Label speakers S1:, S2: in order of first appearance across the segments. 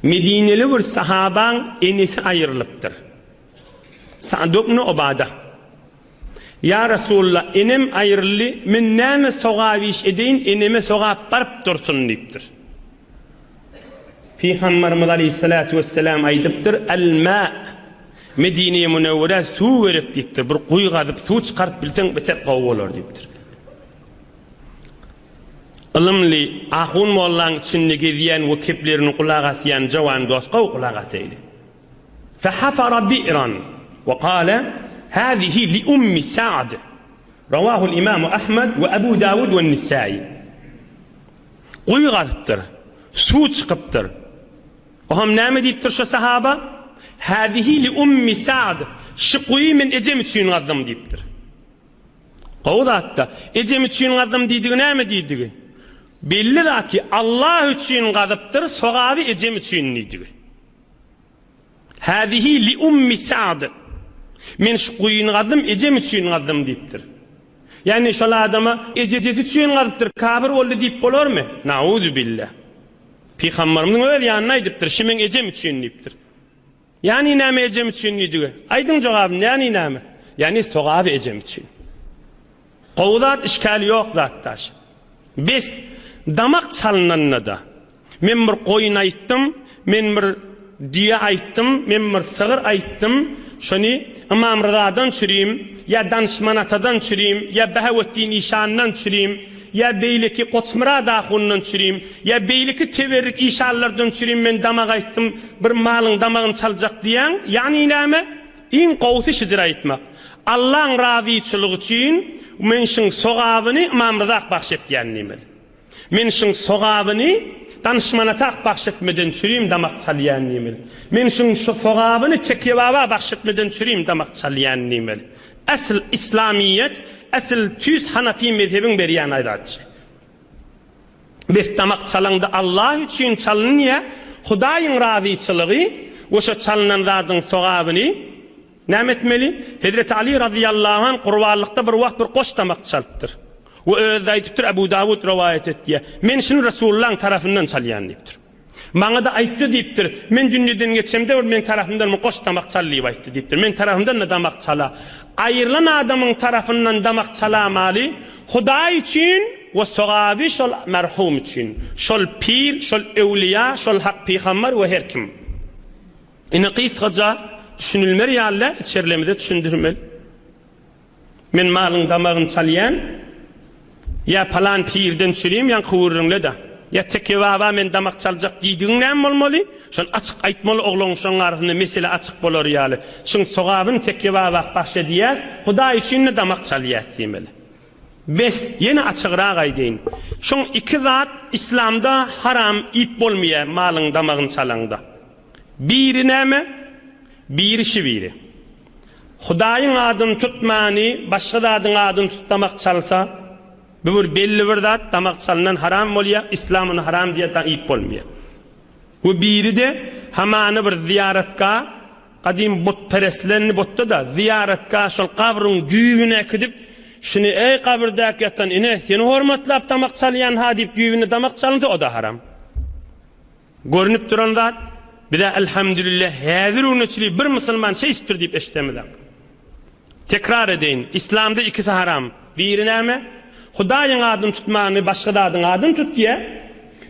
S1: Medineli bir sahabaň enesi aýrylypdyr. Sa'd ibn Ubada, Ýa Resulallah, enem aýryldy, men näme sogap iş edeýin, eneme sogap baryp dursun diýipdir. Pygamberimiz aleýhissalatu wessalam aýdypdyr, Al-ma, Medinä-Munewwerä suw gerek diýipdir, bir guýy gazyp suw çykaryp bilseň beter gowy bolar diýipdir. Ylymly ahun mollaň içinde gezýän we keplerini gulak asýan jowan dos gowy gulak asaýly. Fahafara bi'ran we gale hazihi li ummi Sa'd. Rawahul imamu Ahmed we Ebu Dawud we Nissaýy. Guýy gazypdyr. Suw çykypdyr. Oham näme diýipdir şo sahaba? Hazihi li ummi Sa'd. Şu guýy men ejem üçin gazdym diýipdir. Gowy zat-da. Ejem üçin gazdym diýdigi näme diýdigi? Belli zat ki, Allah üçin gazypdyr, sogaby ejem üçin diýdigi. Hâzihi li ummi Sa'd. Men şu guýyny gazdym, ejem üçin gazdym diýipdir. Ýagny şol adama ejejesi üçin gazypdyr, kafir boldy diýip bolarmy? Nauzubilla. Pygamberimiziň öz ýanynda aýdypdyr, Şu meň ejem üçin diýipdir. Ýani näme ejem üçin diýdige. Aýdyň jogabyny ýani näme. Ýani sogaby ejem üçin. Gowy zat işkali ýok zat daş. Bes damak çalynanda-da. Men bir goýun aýtdym, men bir düýe aýtdym, men bir sygyr aýtdym, şony Ymam Ryzadan çürim, ýa Danyşman atadan çürim, ýa Bahaweddin işandan çürim, Ýa beýleki Goçmyrat ahundan çürim, ýa beýleki teberrik işanlardan çürim men damak aýtdym, bir malyň damagyny çaljak diýýäň, ýagny näme? Iň gowusy şyjyr aýtmak. Allaň razyçylygy üçin men şyň sogabyny Ymamryzak bagş etýän diýmeli. Men şyň sogabyny Danyşmanatak bagş etmeden çürim damak çalýan diýmeli. Men şyň sogabyny Tekýebaba bagş etmeden çürim damak çalýan diýmeli. Esl islamiyet esl tüýs hanafi mezhebin berýän aýratçy. Bes damak çalanda Allah üçin çalynýa Hudaýyň razyçylygy we şo çalynan zadyň sogabyny Näme etmeli? Hezreti Ali razyýallahu anh gurbanlykda bir wagt bir goş damak çalypdyr. We özi aýdypdyr Abu Dawud rowaýat etýä Men şuny Resulullaň tarafyndan çalýan diýipdir. Maňa-da aýtdy diýipdir. Men dünýeden geçemde bir meň tarapymdan bir goş damak çal diýip aýtdy diýipdir. Meň tarapymdan-da damak çala. Aýrylan adamyň tarapyndan damak çalamaly, Hudaý üçin we sogaby şol merhum üçin. Şol pir, şol öwlüýä, şol hak pygambar we her kim. Ine gysgaça, düşünilmer ýaly däl, içerlemize düşündirmeli. Men malyň damagyny çalýan, ýa palan pirden çürem ýaňky gürrüňle-dä. Ýa Teke baba men damak çaljak diýdigiň näme bolmaly? Şony açyk aýtmaly ogluň şoň arasynda mesele açyk bolar ýaly. Şuň sogabyny Teke baba bahş edýäs, Hudaý üçin-de damak çalýas diýmeli. Bes, ýene açygrak aýdaýyn. Şoň iki zat yslamda haram iýip bolmaýa malyň damagyny çalaňda. Biri näme? Biri şibiri. Hudaýyň adyny tutmany başga zadyň adyny tut damak çalsa bu bir belli bir zat damak çalnan haram bolýa islam ony haram diýe da iýip bolmaýa we biri de hamana bir zyýaratga gadym but pereslendi butda da zyýaratga şol gabryň düýbüne äkidip şuny eý gabyrdäki ýatan ine seni hormatlap damak çalýan ha diýip düýbüne damak çalynsa o da haram. Görnüp duran zat, biz-ä Elhamdülillah häzir güne çili bir musulman şeýşipdir diýip eşidemizok. Tekrar edeýin, Islamda ikisi haram, biri näme? Hudaýyň adyny tutmany başga zadyň adyny tut diýýär,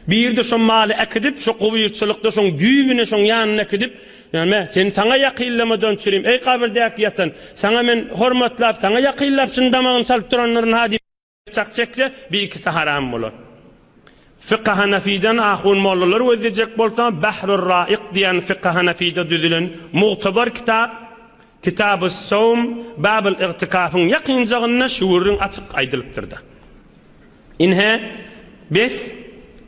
S1: biri-de şo maly äkidip, şo gubyrçylykda şoň düýbüne, şoň ýanyna äkidip, näme, sen saňa ýakynlamadan çürim, eý gabyrdäki ýatan, saňa men hormatlap, saňa ýakynlap şuny damagyny çalyp duranlaryn-ha diýip, Pyçak çekse, bir ikisi haram bolar. Fykhy Hanafiden ahun mollalar gözlejek bolsa, Bahrur Raik diýen Fykhy Hanafide düzülen mugtabar kitap, Kitabus Sowm, Babul Igtikafyň ýakynjagynda şu gürrüň açyk aýdylypdyrda. Ynha, bes,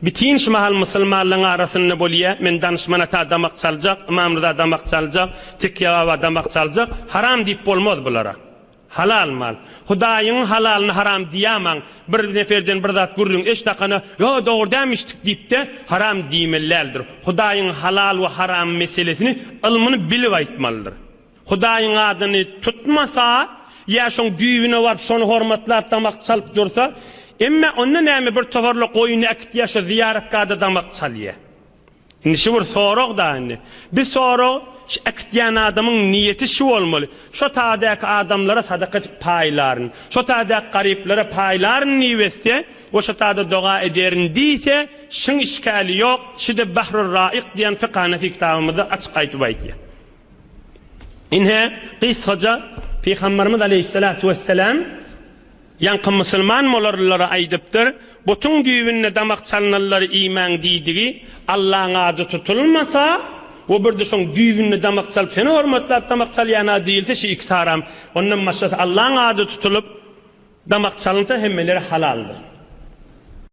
S1: bitin şu mahal musulmanlaryň arasynda bolýa, men Danyşman Ata damak çaljak, Ymam Ryza damak çaljak, Tekýe Baba damak çaljak, haram diýip bolmaz bulara. Halal mal. Hudaýyň halalyny haram diýämaň. Bir neferden bir zat gürrüň eş dakana, Ýo, dogry dämişdik diýip-de, haram diýmelidäldir. Hudaýyň halal we haram meselesini ylmyny bilip aýtmalydyr. Hudaýyň adyny tutmasa, ýa şoň düýbüne baryp şony hormatlap damak çalyp dursa, Emme onda näme bir tohorla goýun äkit ýa şo zyýaratgada damak çalýa. Indi şu bir sorag da indi. Biz sorag şu äkitýän adamyň niýeti şu bolmaly, şo tadäki adamlara sadaka edip paýlaryn, şo tadäki garyplara paýlaryn diýip etse we şo tada doga ederin diýse şyň işgäli ýok, şide Bahrur Raik diýen Fik Hanefi kitabymyzda açyk aýtyp aýtýar. Ine gysgaca Pygamberimiz Aleýhissalatu wesselam. Ýaňky musulman molarlylara aýdypdyr, Butuň düýbünde damak çalnylary iýmäň diýdigi, Allaň ady tutulmasa, we bir-de şoň düýbünde damak çalyp, seni hormatlap damak çalýan-a diýilse, şu ikisi haram. Ondan başgasy Allaň ady tutulyp, damak çalynsa, hemmeleri halaldyr.